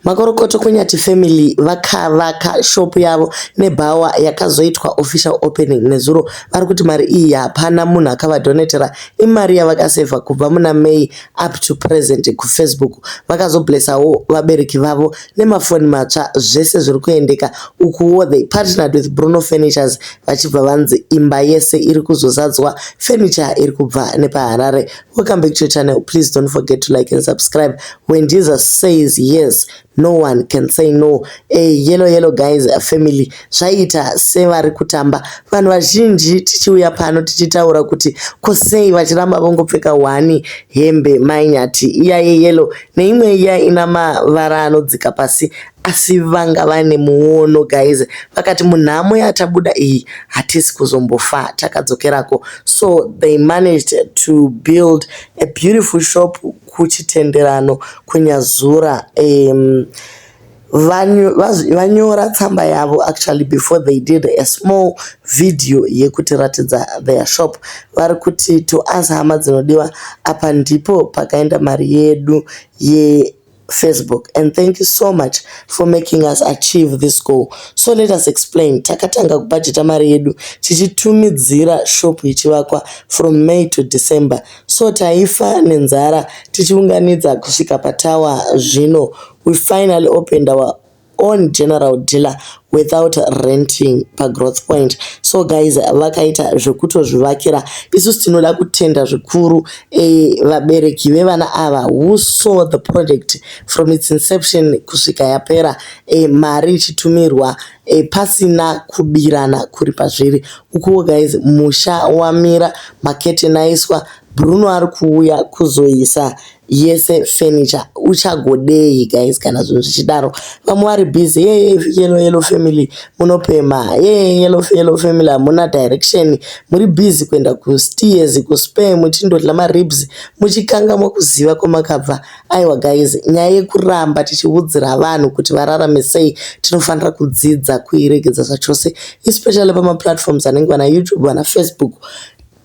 Makorokoto kweNyathi Family vakavaka shop yavo nebhawa yakazoitwa official opening nezuro vari kuti mari iyi hapana munhu akavadonetera imari yavakasevha kubva muna May up to present kuFacebook vakazoblessawo vabereki vavo nemafoni matsva zvese zviri kuendeka ukuwo they partnered with Bruno Furnitures vachibva vanzi imba yese iri kuzozadzwa furniture iri kubva nepaHarare Welcome back to your channel. Please don't forget to like and subscribe. When Jesus says yes, no one can say no. Hey, yellow yellow guys, a family. Zvaita sevari kutamba. Vanhu vazhinji tichiuya pano tichitaura kuti kosei vachiramba vongopfeka wani hembe mainyati iya yeyellow neimwe iya ina mavara anodzika pasi asi vanga vane muono guys vakati munhamo yatabuda iyi hatisi kuzombofa takadzokerako so they managed to build a beautiful shop kuchitenderano kunyazura um, vanyora tsamba yavo actually before they did a small video yekutiratidza their shop vari kuti to us hama dzinodiwa apa ndipo pakaenda mari yedu ye Facebook and thank you so much for making us achieve this goal. So let us explain. Takatanga kubhajeta mari yedu tichitumidzira shop ichivakwa from May to December. So taifa nenzara tichiunganidza kusvika patawa zvino. We finally opened our on general dealer without renting pagrowth point so guys vakaita zvekutozvivakira isusu tinoda kutenda zvikuru e, vabereki vevana ava who saw the project from its inception kusvika yapera e, mari ichitumirwa e, pasina kubirana kuri pazviri ukuwo guys musha wamira maketeni aiswa bruno ari kuuya kuzoisa yese furniture uchagodei guys kana zvinhu zvichidaro vamwe vari busy yeye yellow yellow family munopema yeye yellow yellow family hamuna direction muri busy kuenda kusteers kuspare muchindodla maribs muchikangamwa kuziva kwamakabva aiwa guys nyaya yekuramba tichiudzira vanhu kuti vararame sei tinofanira kudzidza kuiregedza zvachose especially pamaplatforms anenge vana youtube vana facebook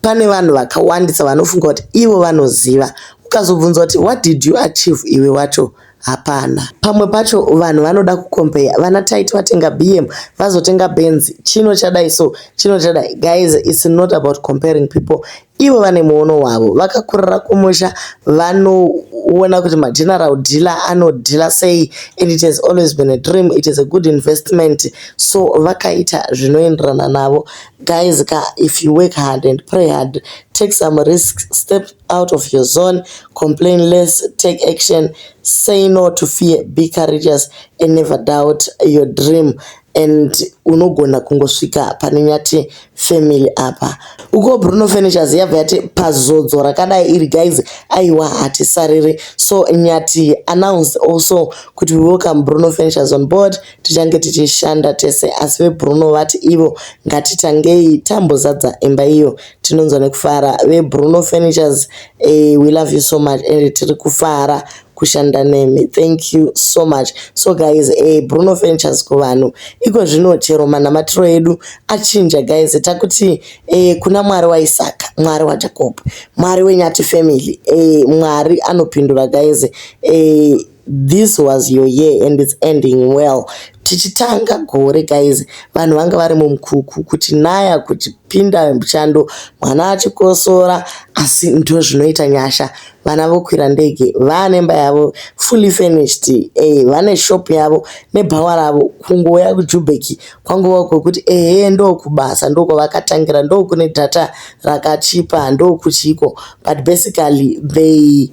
Pane vanhu vakawandisa vanofunga kuti ivo vanoziva. Ukazobvunzwa kuti what did you achieve iwe wacho hapana. Pamwe pacho vanhu vanoda kukompeya vana taiti vatenga bm vazotenga benz chino chadai so chino chadai guys its not about comparing people ivo vane muono wavo vakakurira kumusha vanoona kuti mageneral dealer anodhila sei and it has always been a dream it is a good investment so vakaita zvinoenderana navo Guys ka if you work hard and pray hard, take some risks, step out of your zone, complain less, take action, say no to fear, be courageous and never doubt your dream and unogona kungosvika pane nyati family apa uko bruno furnitures yabva yati pazodzo rakadai iri guys aiwa hatisariri so nyati announced also kuti we welcome bruno furnitures on board Tichange tichishanda tese asi veBruno vati ivo ngatitangei tambozadza imba iyo tinonzwa nekufara. VeBruno Furnitures eh, we love you so much ende tiri kufara kushanda nemi thank you so much so guys eh, bruno furnitures kuvanhu iko zvino chero manamatiro edu achinja guys takuti eh, kuna mwari waisaka mwari wajacob mwari wenyati family eh, mwari anopindura guys eh, This was your year and it's ending well. Tichitanga gore guys, vanhu vanga vari mumkuku kuti naya kuti pinda muchando mwana achikosora asi ndo zvinoita nyasha. Vana vokwira ndege vane mba yavo fully furnished, eh vane shop yavo nebhawa ravo kungouya kuJubek kwangova kwekuti ehe ndokubasa ndokwavakatangira ndokune data rakachipa ndokuchiko but basically they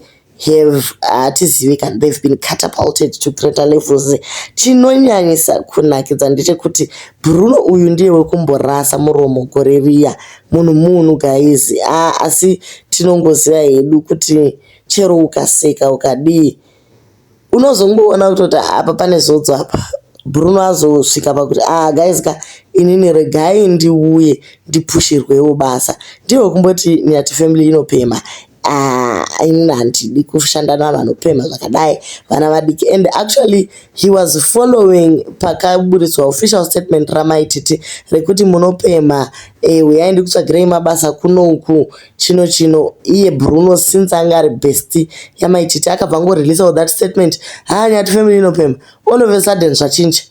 have hatizivi kana they've been catapulted to greater levels chinonyanyisa kunakidza ndechekuti bruno uyu ndiye wekumborasa muromo gore riya munhu munhu guys a asi tinongoziva hedu kuti chero ukaseka ukadii unozongoona kutoti ah, apa pane zodzo apa bruno azosvika pakuti a ah, guys ka inini regai ndiuye ndipushirwewo basa ndivo kumboti nyati family inopema Ah, inini handidi kushanda navanopemha zvakadai vana vadiki and actually he was following pakaburitswa official statement ramaititi rekuti munopemha eh, huyai ndikutsvagirei mabasa kunouku chino chino iye bruno since anga ari besty yamai titi akabva angoreleasa with that statement haa nyati family inopemha all of a sudden zvachinja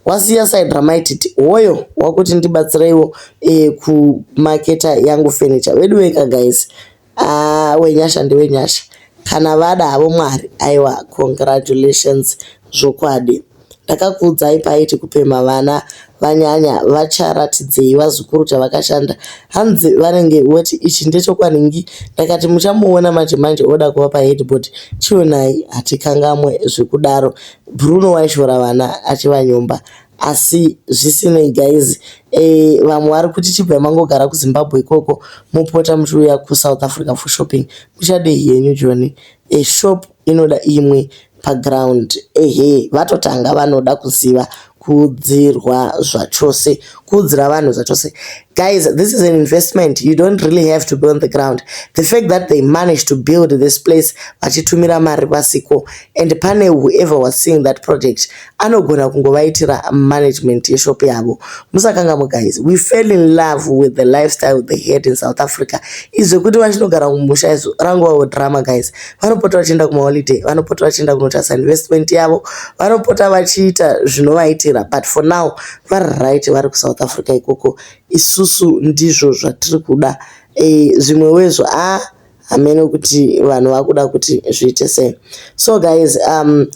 wasiya side ramai titi hoyo wakuti ndibatsireiwo e, kumaketa yangu furniture wedu weka guys ah, wenyasha ndewenyasha kana vada havo mwari aiwa congratulations zvokwadi Ndakakuudzai paiti kupemha vana vanyanya vacharatidzei vazukuru chavakashanda hanzi vanenge voti ichi ndechokwadi nhy ndakati muchamuona manje manje oda kuva paheadboard chionai hatikangamwe zvekudaro Bruno waishora vana achivanyomba asi zvisinei guys eh, vamwe vari kuti chibvai mangogara kuzimbabwe ikoko mopota muchiuya kusouth africa for shopping muchadei henyu joni eh, shop inoda imwe paground ehe vatotanga vanoda kuziva kuudzirwa zvachose kuudzira vanhu zvachose guys this is an investment you don't really have to be on the ground the fact that they managed to build this place vachitumira mari vasiko and pane whoever was seeing that project anogona kungovaitira management yeshop yavo musakangamwe guys we fell in love with the lifestyle they had in south africa izvo kuti vachinogara kumusha izvo rangovawo drama guys vanopota vachienda kumaholiday vanopota vachienda kunotarisa investment yavo vanopota vachiita zvinovaitira but for now vari right vari kusouth africa ikoko isusu ndizvo zvatiri kuda e, zvimwe wezvo a ah, hameno kuti vanhu vakuda kuti zviite sei so guys um,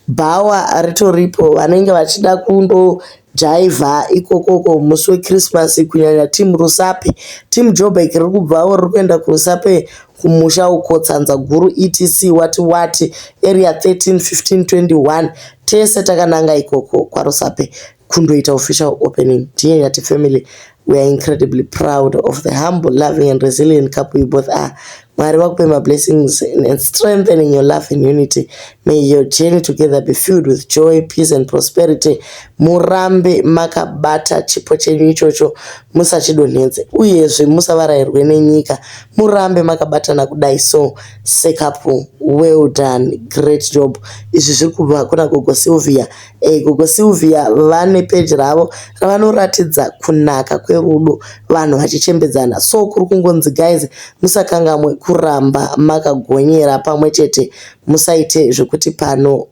bhawa ritoripo vanenge vachida kundo jaivha ikokoko musi wechristmas kunyanya team rusape team jobek riri kubvawo riri kuenda kurusape kumusha uko tsanza guru etc wati wati area 13 15 21 tese takananga ikoko kwarusape kundoita official opening dear yati family we are incredibly proud of the humble loving and resilient couple you both are mwari vakupe mablessings and strengthening your love and unity may your journey together be filled with joy peace and prosperity murambe makabata chipo chenyu ichocho musachidonhedze uyezve musavarairwe nenyika murambe makabatana kudai so sekapu well done great job izvi zviri kubva kuna gogo sylvia Eh, gogo Sylvia vane page ravo ravanoratidza kunaka kwerudo vanhu vachichembedzana so kuri kungonzi guys musakangamwe kuramba makagonyera pamwe chete musaite zvekuti pano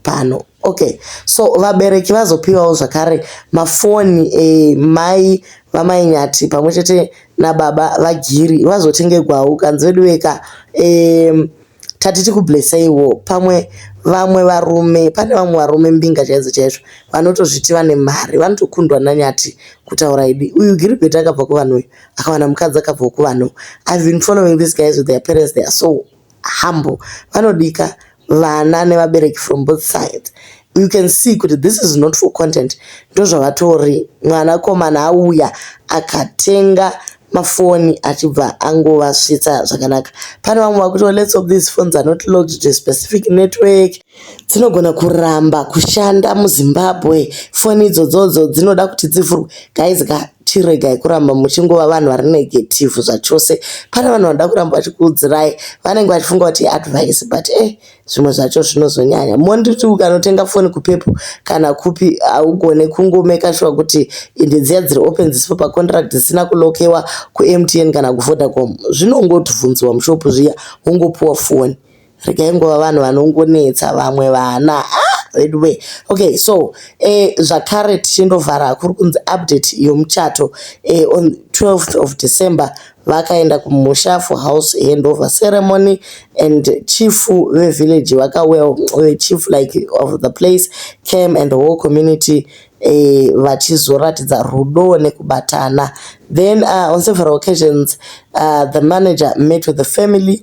pano okay so vabereki vazopiwawo zvakare mafoni eh, mai vamainyati pamwe chete nababa vagiri vazotengegwawo kanzi veduweka eh, Tati tikublesseiwo pamwe vamwe varume pane vamwe varume mbinga chaidzo chaizvo vanotozviti vane mari vanotokundwa nanyati kutaura idi uyu Gilbert akabva kuvanhu uyu akawana mukadzi akabvawo kuvanhu I've been following these guys with their parents they are so humble vanodika vana nevabereki from both sides you can see kuti this is not for content ndozvavatori mwana komana auya akatenga mafoni achibva angovasvitsa zvakanaka pane vamwe vakuti let's hope these phones are not logged to a specific network dzinogona kuramba kushanda muzimbabwe foni idzodzodzo dzinoda kuti dzivhurwe guys ka chiregai kuramba muchingova vanhu vari negative zvachose pane vanhu vanoda kuramba vachikuudzirai vanenge vachifunga kuti advice but e eh, zvimwe zvacho zvinozonyanya monditi ukanotenga foni kupepo kana kupi haugone kungomeka shuwa kuti ende dziya dziri open dzisipo pacontract dzisina kulokewa kumtn kana kuvodacom zvinongotibvunziwa mushopu zviya wongopiwa foni regai nguva vanhu vanongonetsa vamwe vana ah, vedu wee okay so eh, zvakare tichindovhara kuri kunzi update yomuchato eh, on 12th of december Vakaenda kumusha for house handover ceremony and chief vevillage vakauya eh, chief like of the place came and whole community eh, vachizoratidza rudo nekubatana then uh, on several occasions uh, the manager met with the family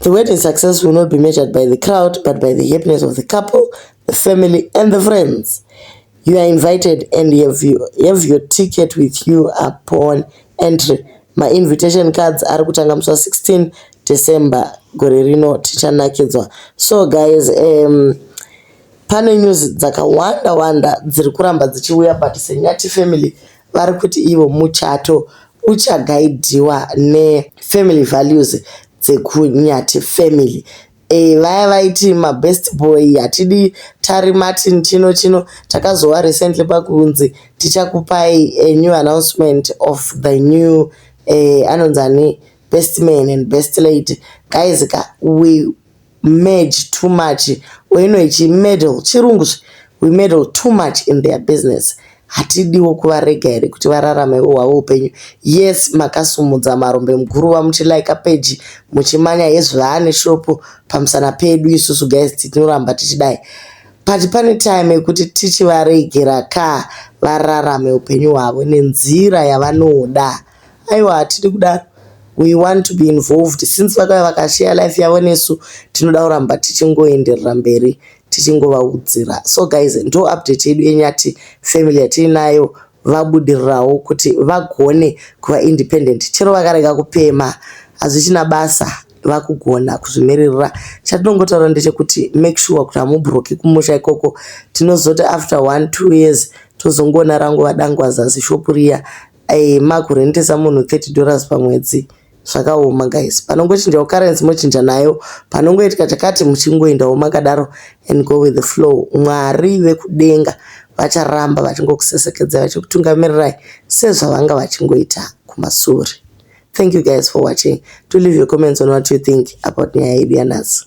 The wedding success will not be measured by the crowd but by the happiness of the couple, the family and the friends. You are invited and you have, you have your ticket with you upon entry. My invitation cards are kutanga musi 16 December gore rino tichanakidzwa. So guys, um, pane news dzakawanda wanda dziri kuramba dzichiuya but senyati family vari kuti ivo muchato uchagaidhiwa ne family values dzekuNyathi family Eh, vaya vaiti mabest boy hatidi tari martin chino chino takazowa recently pakunzi tichakupai a new announcement of the new eh, anonzi ani best man and best lady guys ka we merge too much oino ichi meddle chirungu zve we meddle too much in their business hatidiwo kuvarega here kuti vararamewo hwavo upenyu yes makasumudza marombe muguruva muchilaika peji muchimanya hezvaane shopo pamusana pedu isusu guys tinoramba tichidai but pane time yekuti tichivaregera ka vararame upenyu hwavo nenzira yavanoda Aiwa hatidi kudaro we want to be involved since vakauya vakashare life yavo nesu tinoda kuramba tichingoenderera mberi tichingovaudzira so guys ndo update yedu yenyati family yatiinayo vabudirirawo kuti vagone kuva independent chero vakarega kupema hazvichina basa vakugona kuzvimiririra chatinongotaura ndechekuti make sure kuti hamubroki kumusha ikoko tinozoti after one two years tozongoona rangu vadangwaza zishopu riya Ayy ma kurentesa munhu 30 dollars pamwedzi zvakaoma guys panongochinjawo currency mochinja nayo panongoitika chakati muchingoendawo makadaro and go with the flow mwari vekudenga vacharamba vachingokusesekedzai vachikutungamirirai sezvavanga vachingoita kumasure thank you guys for watching to leave your comments on what you think about nyaya yedu yanhasi